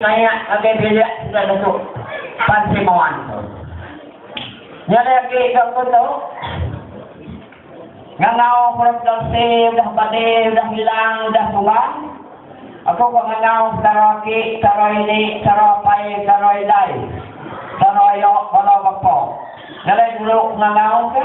Tanya ngagai bilik enggau lebu Pansik Moan tu. Nya lagi ke aku tu, ngangau Prof Damsi udah bali, udah ilang, udah tumbang. Aku ka ngangau sara aki, sara ini, sara apai, sara indai, sara ayo bala bapa. Nya alai dulu ngangau ke.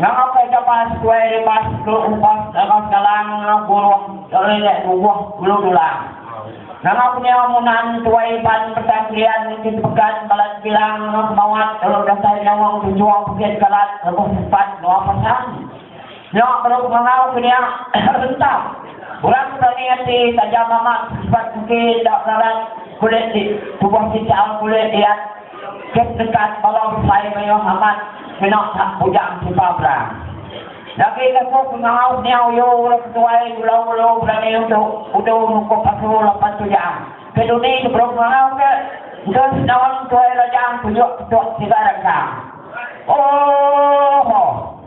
Nama ke kapas tuai lipas tu upas kapas galang buruh kerelik bubuh ulu dulang. Nama penyawa munan tuai pan petang krian niti tepegan balat bilang semawat telok dasai nyawang tunjung pekit kalat lebuh sempat nuah pasang. Nya baru ngangau ke nya rentap. Orang ke berani ati taja mamak ke sempat engki enda berarat kulit di tubuh kincau kulit diat. Ke dekat bala besai mayuh amat kena tang bujang suka perang. Dagi lebuh pengawa seniau Yo le ke tuai ulau ulu berani udu udu nukup pasu lapan tujang. Ke duni sebelum pengawa ke, engke senaung tuai lajang tunjuk ketuk sigar engkang. Oohh.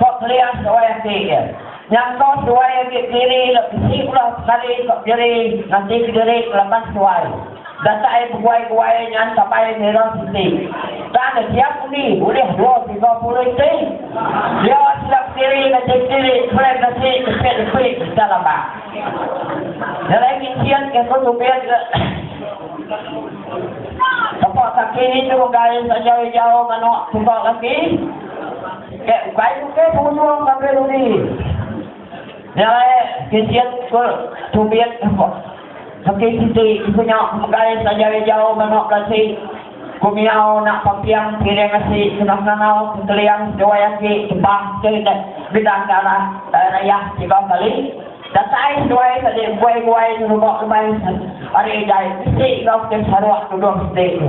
Ko Keliah seduai ati iya. Nyangka seduai agi diri le bisi ulah sekali ko diri ngati kediri ngelaban seduai. Datai beguai-guai nyan kabai ngira siti. Tang ngejiak undi ulih dua tiga puluh iti. Dia sida kediri ngati kediri kepelai ngasi nepit nepi deka lambak. Nyelai kinchin ke ko Tubing le. Tepa kaki nindu enggai saja ijau manok tuka kaki. Ke ukai tu ke pengunjung ngagai dudi. Nya alai kincit ke tumbit beki siti iku nya megai saja ejau banuk kasi ku miau enda pamping piring asi kena ngangau ke keliang seduai aki tebang ke bidang ke anak daya nayah tiga kali. Datai seduai tadi buai-buai ngeruba keban ari jai bisi enggau ke Sarawak tuduh siti tu.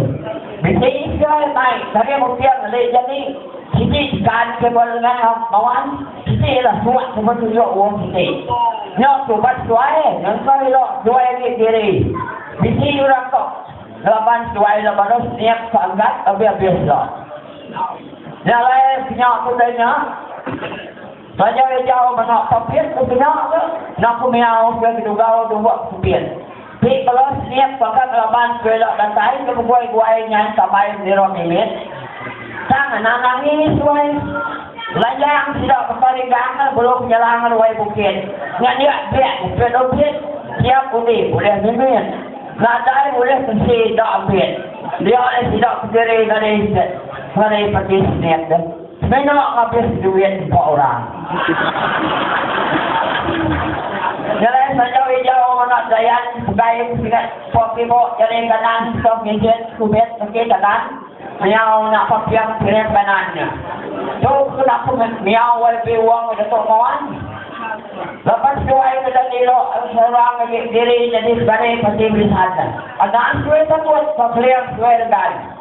Bisi ke mai ngagai Bukit Lei jani siti jekan ke buai lengan enggau Mawan, siti iya lah suak ke betunjuk wong siti. Nya tu uban seduai ngengkau ila seduai agi diri. Bisi orang tu ngelaban seduai ila baru seniap ke angkat abis-abis ila. Nya alai ke nya tu dai nya. Taja iya jauh mega Papit tu kena ke enda ku mia aum ke kedugau dua Papit ti bela senip baka ke laban ku ila datai ke begui guai nyai Tambai Mendira Mimit tang ngena nangi suai lanjang sida bepari gang ke belu penyelang ruai bukit nya dia biak Papit Opit tiap undi bulih Mimit nadai bulih besi enda Opit dia leh sida kediri ngadai ngadai peti senip deh. Semina ngabis duit empa orang. Nyelai sanjau ijau anak Dayan pegai sigat pok tibok jari kanan sitoh nginjit kubit reti kanan miau nya papiang pirim kanan nya. Tu kena ku miau wai biwang ke Datuk Moan. Lepas tuai ke dang ilo seorang agi diri nyadi sekali peti belisan. Anak suai takut ke keling suai regan.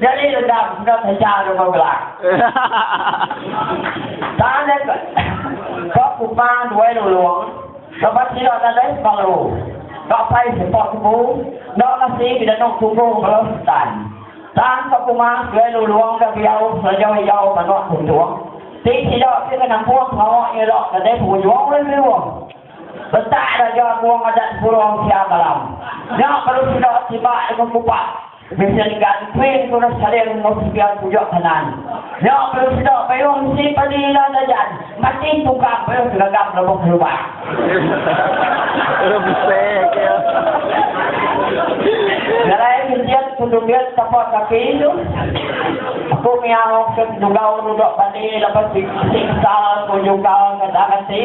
Nyadi dendam enggau taja Ronggo Gelang. Tanda ke ke kupang duai lulung lebuh sida nadai sebelu ka pai sepak tebu enda kasi bedanuk tugu bala setan. Tang ke kumang duai lulung ke diau selejau ijau manuk tuntung ti sida ke ngenampung pengawa iya nya nadai pengujung ulih meruh. Betak raja kuang adat Burong Siang Malam nya baru sida tiba deka kupak. Vincent Gan Pring Turas Salim enggau Sibiang Pujuk Kanan. Nya perlu sida payung mesti padi ila Dajan mati tukang payung segagam lebuh kelubang. Jalai Vincent ke Dugit tapa kaki tu. Aku miau ke Dugau Rudok Bani lebuh ti bisi kesal ke Jungkal ke Dang Ati.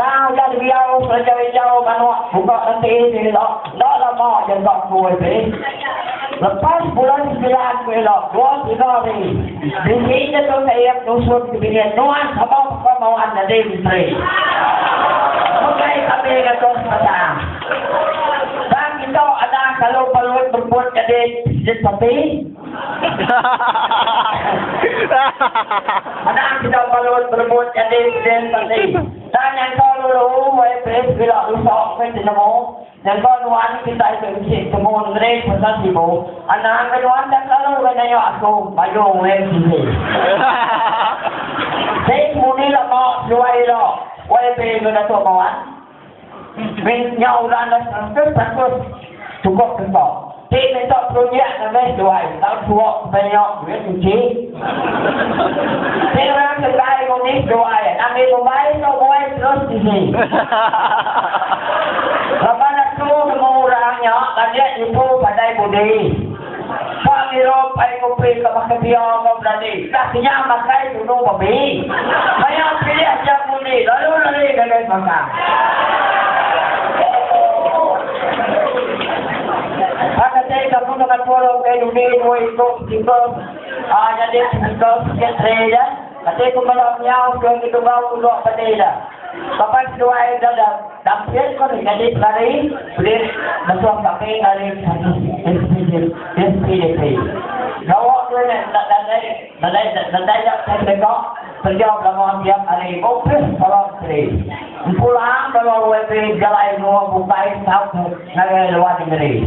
Tang iya diau ngerinjau injau manok buka ngentii diri ila, enda lama iya enda ku MP. Lepas bulan semilan ku ila, dua tiga hari, bini iya tu teik nusun ke bingit nuan sama baka mawan nyadi menteri. Megai kami ngatur sebedang. Tang kitok adah kalu Palui Berput nyadi Presiden Parti. Anak sida balut berebut nyadi Perdin Menteri. Enda nyangka dulu wei Pris bila lusa meh tinemu. Nyangka nuan kitai ke bisi betemu nengeri pasal sibu. Anang ke nuan enda kelalu wei nayak aku, mayung wei sisi. Pris mudi lama seduai ila wei Pris enggau Datuk Mawan. Beg nya udah enda serangkut-serangkut chukup kento. Ti meda projek ngagai seduai tang suo sepenyok duit nyuci. Ti orang seduai ngundi seduai anak mih Mumbai tu buai terus bisi. Laban aku nemu orang nya landik nipu padai budi. Ba Europe ai ngupi ka baka pia enggau berani dah kenyang makai tunu babi. Maya pilih aja ngundi lalu lari ngagai pangkang. Ba kati kampung Temanpuru ukai dudi dua iku speaker nyadi speaker sikit tray ja. Enti ku bala menyau ke ngetungau puluk peti ila, Papan Seduai Dadap Dampian ko ni nyadi pelari belit mesuh kami ari SPDP. Gawa ke nya enda nadai nadai ja teh deka penjau belama abiak ari opis bala menteri. Empu laang bala YB bejalai menua bukai saut ngagai luar nengeri.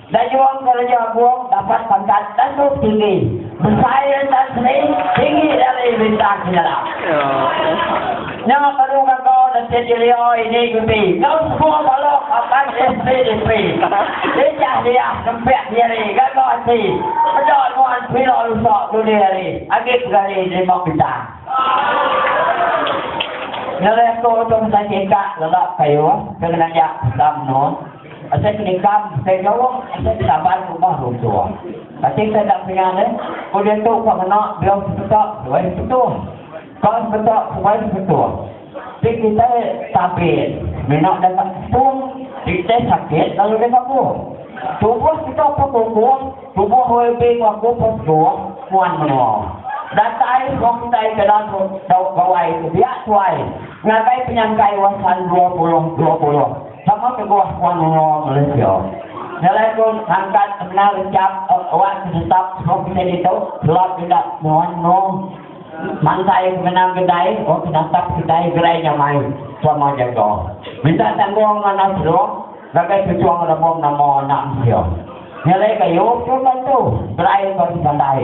Dayung kereja Bung dapat pangkat tentu tinggi besai ari Tan Sri tinggi ari Bintang Kinalam. Nya baru gaga Datin Dilia ini Guti enggau semua bala kaban SPDP ijah liah nempik diri gaga ati meda nuan pila lusa dudi hari agi pegari nerima bintang. Nyelih tu Tung Sai Kingkak lelak payuh ke ngenanjak pesta menua. Asai peningkam, asai jauh, asai penaban rumah runtuh. Kati ke enda peringat eh? Ku diatu ka ngena biau sepetak seduai sepetuh. Ka sepetak seduai sepetuh. Ti kitai tabit mina deka setung ti kitai sakit lalu deka buh. Tubuh kita pun bubuh, tubuh OLB enggau aku pun segung, nuan menua. Datai semua kitai ke dalam dau gawai ke biak tuai ngagai penyangkai Wasan dua puluh dua puluh. Sama kebuah Puan Lungo Malaysia nyelai ku ngangkat semina rejak wak tetap sepuluh pisen ditu sebab enda semua nemu mansai semina kedai wak penatap kedai gerai nyamai selama jaga minta tanggung manah serung ngagai Ketua Rabong Nama Anak Mensia nyelai ke Yop tu bantu gerai ke sebandai.